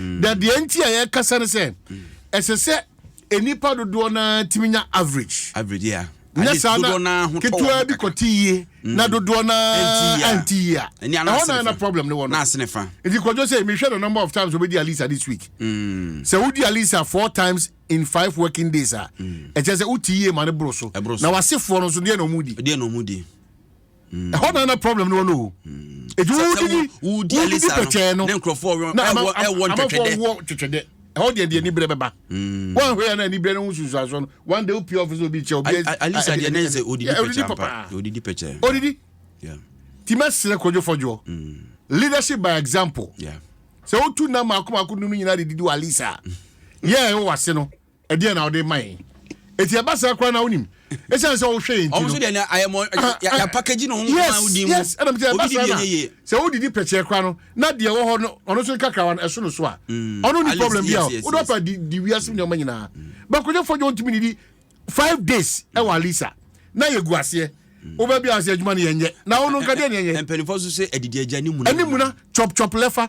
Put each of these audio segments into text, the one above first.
na deɛ nti a yɛkasa no sɛ ɛsɛ sɛ nnipa dodoɔ no ara tumi nya average average yeah. nyɛ saa na ketewa bi kɔte yie mm. na dodoɔ no ara nte yie a ɛhɔ na na problem no wɔ no nti kɔdwo sɛ mehwɛ the number of times wobɛdi alisa this week mm. sɛ wodi alisa four times in five working days a mm. ɛkyɛ sɛ wote yie ma no boro so na wasefoɔ no nso deɛ na ɔmudi Mm. ɛhɔ na na problem no wɔ no o ɛti mm. wodidi wodidi pɛkyɛɛ no na amanfoɔ wɔ twetwedɛ ɛhɔ deɛ deɛ nibrɛ bɛba mm. woanhwɛ yɛ na nibrɛ no ho susuasoɔ no one day wopia ɔfisɛ obi kyɛ obi alisa deɛ ne sɛ odidi pɛkyɛ papa odidi pɛkyɛ odidi ti mɛsrɛ kodwofɔdwoɔ leadership by example sɛ wotu nam mako mako num no nyinaa de didi wɔ alisa yɛ ɛwɔ wase no ɛdeɛ na ɔde ma yɛn eti ɛba saa koraa na wonim ɛsiane sɛ wohwɛ yɛn ti no ɔmo so deɛ na ayɛ mɔ yɛ package na ɔmo kɔn a wodi mu yes ɛna mo ti ɛba saa na sɛ wodidi pɛkyɛ koraa no na deɛ ɛwɔ hɔ no ɔno so nkakrawa no ɛso no so a mm. ɔno ni problem bi a wodɔ apa di di wiase mu nneɛma nyinaa mm. bakodwa fɔdwa ntumi ni di five days ɛwɔ mm. alisa na yɛ gu aseɛ wobɛ bi ase adwuma no yɛnyɛ na wo no nka deɛ ne yɛnyɛ mpanyinfoɔ so sɛ adidi agya ne muna ne muna chop chop lɛfa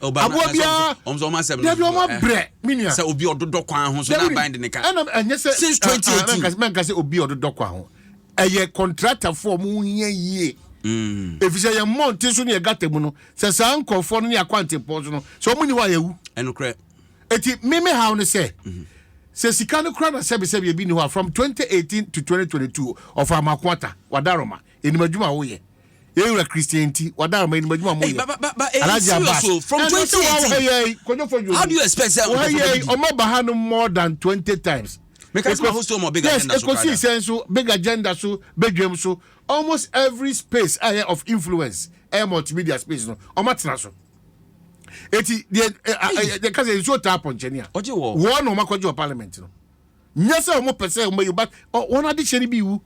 aboa biara dabi ɔmo abrɛ mi nua sɛ obi ɔdodɔ kwan ho so na aban de ne ka ɛnam ɛnyɛ sɛ since twenty eighteen mɛnka sɛ obi ɔdodɔ kwan ho ɛyɛ kɔntratafo ɔmo hia yie mm. efisɛ yɛn mmɔnten so ne yɛ gata mu no sɛ saa nkorɔfoɔ no ne akwantempɔn so no sɛ ɔmo ni hɔ a yɛwu ɛnokorɛ eti mimi haw no sɛ mhm. sɛ sika no kora na sɛbisɛbi ebi ni hɔ a from twenty eighteen to twenty twenty two ɔfa amakoata wadaroma enim adwuma a woyɛ ewura christian ti wada ama enim adwuma mo yɛ alaji abas ɛnu sɛ wɔn ha yɛ yi konyofo yi omi wɔn ha yɛ yi ɔmo ba ha no more than twenty times yes ekosi sɛ nso big agenda so bedwam so almost every space a yɛ of influence ɛyɛ multimedia space no ɔmo atena so eti deɛ ɛɛ ɛɛ ɛka sɛ nsuo taa pɔnkyɛnia wɔn na ɔmo akɔgye wɔ parliament no. nyɛ sɛ wɔn pɛ sɛ wɔn bɛyi but wɔn adehyɛ no bi wu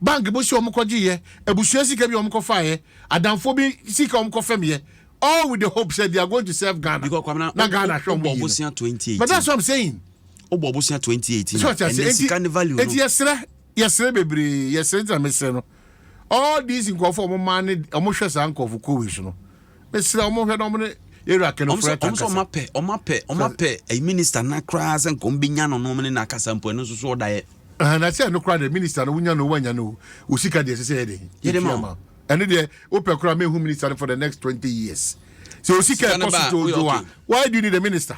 bank bo si wɔn kɔ gye yɛ abusua sika bi wɔn kɔ fa yɛ adanfo bi sika wɔn kɔ fam yɛ all with the hope said they are going to serve Ghana na Ghana hwɛ wɔn yi but that's what I'm saying wobɔ ɔbosea 2018 ɛnɛ sika ne value no enti yɛserɛ yɛserɛ bebree yɛserɛ gyina mesrɛ no all these nkurɔfo a wɔn man ne wɔn hwɛ saa nkurɔfo kowei so no mesrɛ wɔn hwɛ na wɔn ne area kɛnɛfo ɛta nkasa wɔn apɛ wɔn apɛ wɔn apɛ ɛyi minister na koraa sɛ nkɔm bi nya no na wɔn ne na akasa mpo ɛno nso so ɔda yɛ ɛhɛn na sɛ ɛno koraa deɛ minister no wonya no wonya no o sika deɛ ɛsɛ sɛ yɛ den yɛde ma ɛno deɛ wopɛ koraa mehu minister no for the next twenty years sɛ osika ɛkɔ so dwoodwoo a why do you need a minister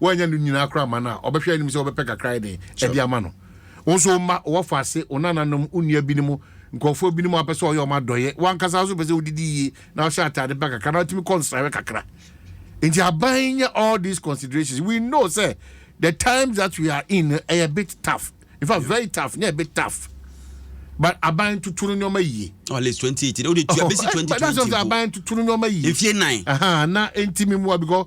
Woannya no nyinaa koraa amma no a, ɔbɛhwɛ anim sɛ wobɛpɛ kakra ayɛ dɛn de ama no. Wo nso wo mma, wo wɔfa ase, wo nananom, wo nua binom, nkurɔfoɔ binom a wopɛ sɛ ɔyɛ wɔn adɔeɛ. W'ankasa nso wopɛ sɛ wodidi yie, na wohyɛ ataade pa kakra, na wotumi kɔ nsrahwɛ kakra. Enti aban nyɛ all these considerations. We know sɛ the times that we are in no, ɛyɛ bit tough. In fact, very tough, nyɛ bit tough. But aban tutu no nneɛma yie. At least 2018, o de tua bɛsi 2020 mpo. Aban tutu no nneɛma yie. Mfie nnan. Aha, na enti me mua because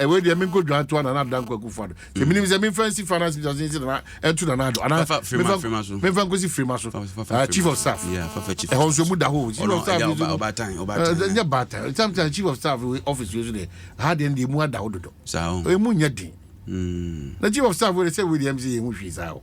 ɛwɔ deɛ mi nkɔ dwan to ana na dan kwaku fa do sɛ mm. mi nim sɛ mi nfa nsi finance minister nsi nana ɛntu nana do ana mi nfa nkosi firima so ah, chief of staff ɛhɔ nso mu da hɔ chief of staff nso ɛɛ nyɛ baatan sometimes chief of staff office yɛ so deɛ ha deɛ deɛ mu ada hɔ dodo emu nyɛ den na chief of staff wɛrɛ sɛ wɛrɛ yɛm sɛ yɛn ho hwii saa o.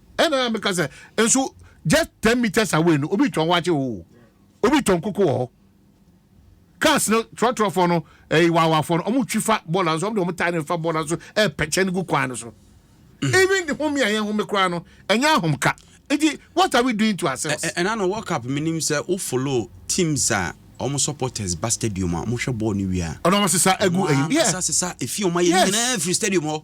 ɛna a meka sɛ nso just ten meters away no obi tɔn wakye o obi tɔn koko wɔ hɔ cars no trɔtrɔfoɔ no ɛyi eh, wawafoɔ no wɔn twi fa bɔɔla nso wɔn de wɔn tae no fa bɔɔla nso ɛɛpɛkyɛ no gu kwan no so mm. even the home a yɛn home koraa no ɛnyɛ ahomka nti what are we doing to ourselves. ɛna no world cup mi nim sɛ o follow teams a wɔn supporters ba stadium a wɔn hwɛ bɔɔl no wia. ɔnà wɔn sisa egu ɛyi. wɔn sisa sisa efi wɔn ayɛ nyinaa firi stadium hɔ.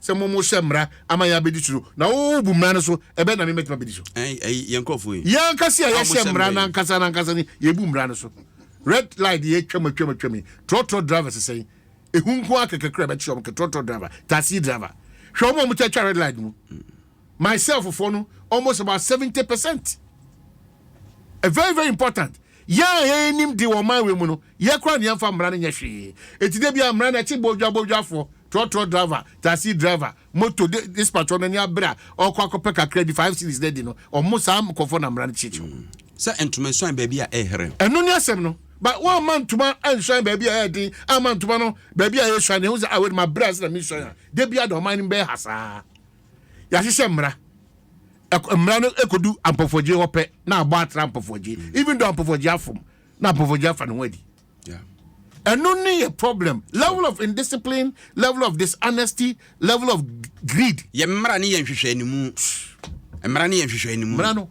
sɛ mo mo hyɛ mmara ama yɛn abɛdi so no na wo wo bu mmara no so ɛbɛn na me mɛtumi abɛdi so. Ɛn ɛyi yɛn nkurɔfoɔ yi. Yɛn ankasa yi a yɛhyɛ mmara no ankasa no ankasa no yɛ bu mmara no so red light deɛ atwam atwam atwam yi trɔtrɔ drivers sɛn ehu nko ara kɛkɛ kura bɛkyerɛ wɔn kɛ trɔtrɔ driver taxi driver hwɛ wɔn a wɔn kyɛ atwa red light mu. Mm. myself foɔ no almost about seventy percent a very very important yɛn a yɛn anim de wɔn man wei mu no yɛ kora ne yɛnfa mmara no nyɛ hwee eti de bi a mmara no ɛkye bodwa bodwafoɔ trɔtrɔ driver taxi driver moto de dispatch ɔno ani abere a ɔkɔ akɔpɛ kakra di five series na adi no ɔmo saa nkɔfoɔ na mmara no kyekyew mm. sɛ ntoma nsuan baabi a ɛhɛrɛ ɛno ne asɛm no ba wɔn ama ntoma nsuan baabi a ɛyɛ den ama ntoma no baabi a ɛyɛ suan ne ho sɛ awɛ ah, ma bere ase na mi suan a de bi a na ɔman no bɛyɛ ha saa. yɛahyehyɛ mmara mmara no ekodu ampɔfɔgye hɔ pɛ na abɔ atra ampɔfɔgye mm. even though ampɔfɔgye afom na ampɔfɔgye afa ne ho adi ɛno ne yɛ problem level of indiscipline level of dishonesty level of greed. yɛ mmara ne yɛ nhwehwɛ ne mu mmara ne yɛ nhwehwɛ ne mu. mmara no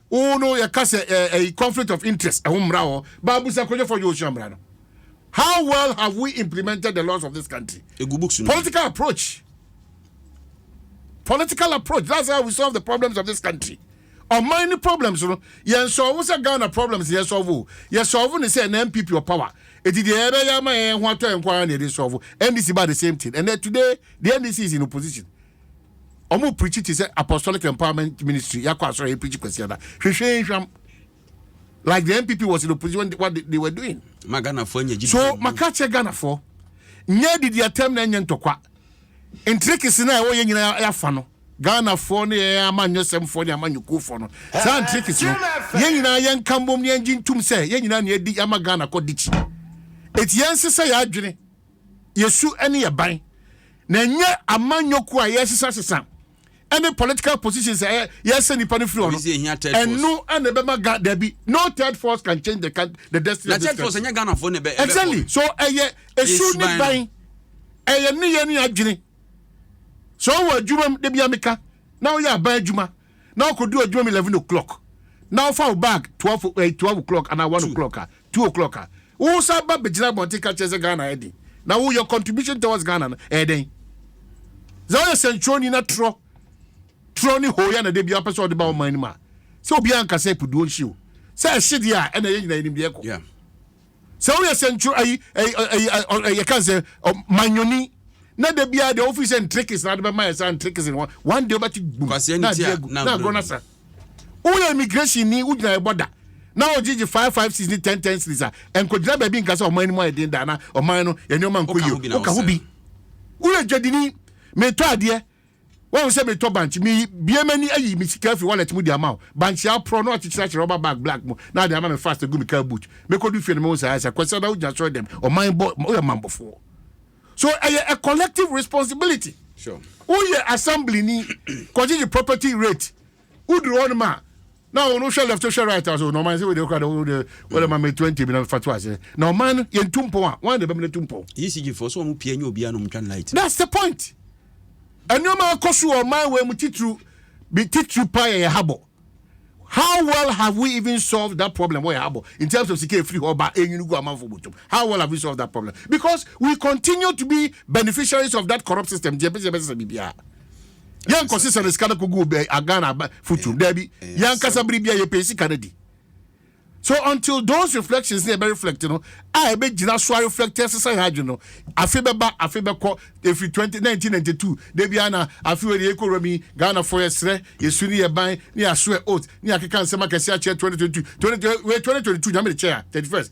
wo no yɛka sɛ ɛyi conflict of interest ɛho mmara wɔ baabu sɛ nkurɔfoɔ yɛ osua mmara no how well have we implemented the laws of this country egu books no political approach political approach that's how we solve the problems of this country ɔman ne problems no yɛn sɔɔvo sɛ ghana problems yɛn sɔɔvo yɛ sɔɔvo ne sɛ na npp wɔ power eti deɛ yɛbɛyɛ ama yɛn ho atɔ yɛn nko ara na yɛde sɔɔvo ndc ba the same thing and then today the ndc is in opposition. ɔmo preachi te sɛ apostolic empowerment ministry yɛ akɔ asɔre yɛ preachi kwasiada hwehwee nhwam like the npp was in opposition what they, they were doing ma ghanafoɔ anya gyidi so maka kyɛ ghanafoɔ nyɛ didi atɛm na ɛnyɛ ntɔkwa ntirikisi na ɛwɔ yɛ nyinaa yɛafa no ghanafoɔ ne yɛn amanyɔsɛmfoɔ ne amanyɔkuofoɔ no saa ntirikisi no yɛn nyinaa yɛnka mbom ne yɛngye ntum sɛ yɛn nyinaa ne yɛdi yɛama ghana kɔ dikyi eti yɛnsesɛ yɛ adwene yɛ su ne yɛ ban na ɛnyɛ amanyɔkuo a yɛsesasesa ɛne political positions a yɛsɛ nipa no firi hɔ no ɛno ɛna ɛbɛma ga dabi no third force can change the, the destiny of this country exactly so ɛyɛ esu ne ban ɛyɛ ne yɛ ne adwene so wɔ adwuma mu de bi ameka na woyɛ aban adwuma na ɔkɔduru adwuma mu eleven o'clock na wofa wo bag twelve eh, twelve o'clock anaa one o'clock a two o'clock a wo sa ba bɛgyina abɔnten ka kyerɛ sɛ ghana ayɛ den na wo your contribution towards ghana no ɛyɛ dɛn sɛ woyɛ sɛnkyerɛni na torɔ torɔ ne hooyɛ na da bi apɛ sɛ ɔde ba wo man no mu a sɛ obiara nka sɛ puduo nhye o sɛ ɛhye deɛ a ɛna yɛ nyina yɛnim deɛ ɛkɔ sɛ woyɛ sɛntwerɛ ayi ayi ayi yɛka sɛ manyoni na da biara deɛ wofi sɛ ntrikis na ade bɛma yɛ saa ntrikis no one day wobɛte gbum na adeɛ agu na agorɔ no sa woyɛ immigration ni wogyina ɛbɔ da na ɔgyegye five five six ne ten ten series a nkɔgyina baabi nka sɛ ɔman anim ayɛ den daa na ɔman no yɛne ɔma nkɔ yie woka ho bi woyɛ dwadini metɔ adeɛ Woahu sɛ meretɔ bankye? Mebue m'ani ayi me sika afi wallet mu de ama wo. Bankye a aporɔ na wɔakyekyere ahyɛ rɔba bag black mu na wɔde ama me fast agu me car boot. Mekɔdu fie no mehu sɛ ayɛ saa. Kwasiada wogyina asɔre dɛm? Ɔman bɔ woyɛ mammɔfoɔ. So ɛyɛ a collective responsibility. Woyɛ assembly ni kɔgyegye property rate Woduru hɔnom a, na wɔn hwɛ left hwɛ right a so na ɔman sɛ wode kora de wode wode ma me twenty bi na fa to ase na ɔman no yɛn tu mpɔn a wɔn de bɛmene tu mpɔn. ECG fo so wɔn pia nye obiara na wɔn twa light. That's the point. Nneɛma akɔ so wɔ ɔman wei mu titiriw bi titiriw paa yɛ yɛhabɔ. How well have we even solved that problem wɔ yɛhabɔ in terms of sika efiri hɔ ba enwini gu amanfo botom? How well have we solved that problem? Because we continue to be beneficiaries of that corrupt system. Deɛ bɛsɛ bɛsɛ biribiara. yɛn nkɔ sisa ne sika no kogu obi agana aba futu dabi yɛn ankasa bere bi a yɛpɛ sika no di so until those reflections ne ɛbɛ reflect no a ɛbɛ gyina so a reflect ɛsesa yɛn adwene no afe bɛba afe bɛkɔ efiri twenty nineteen ninety two dabi ana afe wɔ deɛ ekɔ rami ghana fo yɛ srɛ yɛ su ne yɛ ban ne yɛ aso yɛ oat ne yɛ akeka nsɛm akɛse akyɛ twenty twenty two twenty twenty two nyame de kyɛ ya thirty first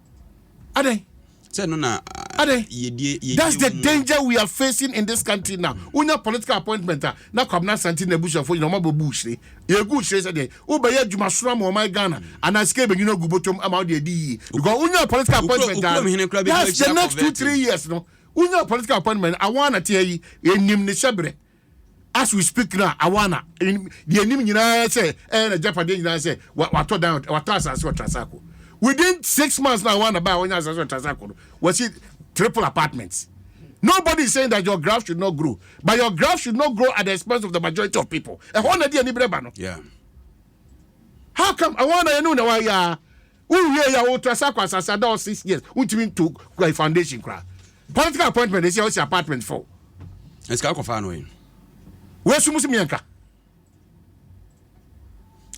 adɛn sɛ no na adɛn yɛdie yɛdie that's the danger we are facing in this country now wonya political appointment a na kwabena asante na abusuafoɔ nyina ɔma bɛbu hyire yɛgu hyire sɛ deɛ wobɛyɛ adwuma soro ama ɔman ghana mm. anaa sika bɛnyina gu bɔtɔm ama wode adi yie because wonya political appointment daa that's the next two three years no wonya political appointment awɔ na teɛ yi ɛnim ne hyɛberɛ as we speak now awana deɛ nim nyinaa sɛ ɛyɛ eh, na japadeɛ nyinaa sɛ watɔ dan watɔ asase wɔ trasako within six months na awana baa wɔnyɛ asase wɔ trasako no wɔsi triple apartments nobody is saying that your graph should not grow but your graph should not grow at the expense of the majority of people ɛhɔ na deɛ nibrɛ ba no how come awana yɛ no na wayɛ a Wo wie ya wo trasa kwasasa da wo six years wo ntumi nto kwa foundation kura. Political appointment esi ɔsi apartment fɔ. Esika akɔ fa no yin. Wo esu musu mi anka.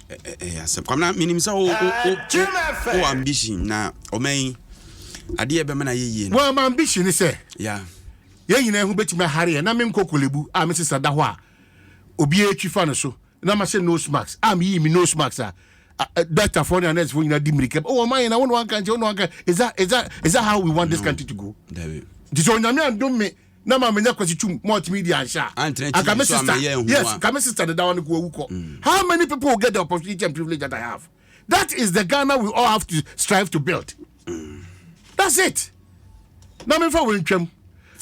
Eh eh ya sep kwamna minim sa wo wo wo ambition na omen ade e be mana ye yie. Wo ambition ni se. Ya. Ye nyina ehu betimi ahare na me nkokolebu a me sisa da ho a obi e twi fa no so. na mahyɛ nose mask a meyii me nose mask a doctorfoɔ ne anursefoɔ nyinaa di mmirika o wɔn ayɛ na wɔn na wɔn nkankyɛ wɔn na wɔn nkankyɛ is that is that is that how we want this country to go nti sɛ onyame andom me na ma menya kwasi twum multimedia anhyɛ a anka me sister yes ka me sister dedawa no ko awu kɔ how many people will get the opportunity and privilege that I have. that is the ghana we all have to strive to build that's it na mefa wei ntwam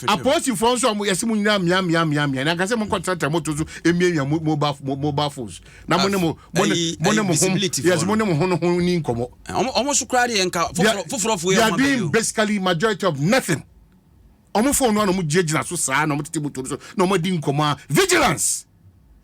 apolisifoɔ nso ɔmo yɛsi mo nyinaa mia mia mia mia na nkasa mo nkɔ tẹtẹ mo to so emiamia mo mobile mo mobile phones na mo ne mo mo ne mo ne mo ho yɛsi mo ne mo ho no ho ni nkɔmɔ. ɔmo so kura deɛ nka foforɔ foforɔ yɛ ɔmo abɛn o. they are doing basically majority of nothing ɔmo fone no na ɔmo gyinagyina so saa na ɔmo tete mo to so na ɔmo di nkɔmɔ a vigilance.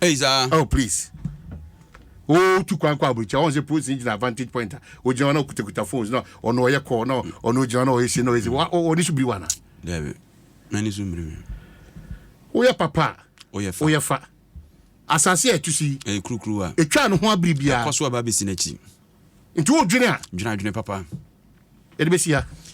Hey, saa. Oh, please. Oh, tu kwan kɔ aburukyɛ. Ɔn sɛ polisi gyina advantage point a. Ogyina hɔ na okutakuta phones na ɔno ɔyɛ call na ɔno ogyina na ɔyɛ si na ɔyɛ si. Wa ɔni so biri wa na. Dɛbi, mɛni so biri mi. Oyɛ papa. Oyɛ fa. Oyɛ fa. Asase a ɛtu si. Ɛyɛ kurukuru wa. Etwa ne ho abiri bia. Ɛkɔ so aba besi n'akyi. Nti o dwene a. Dwene adwene papa. Ɛde besi ha.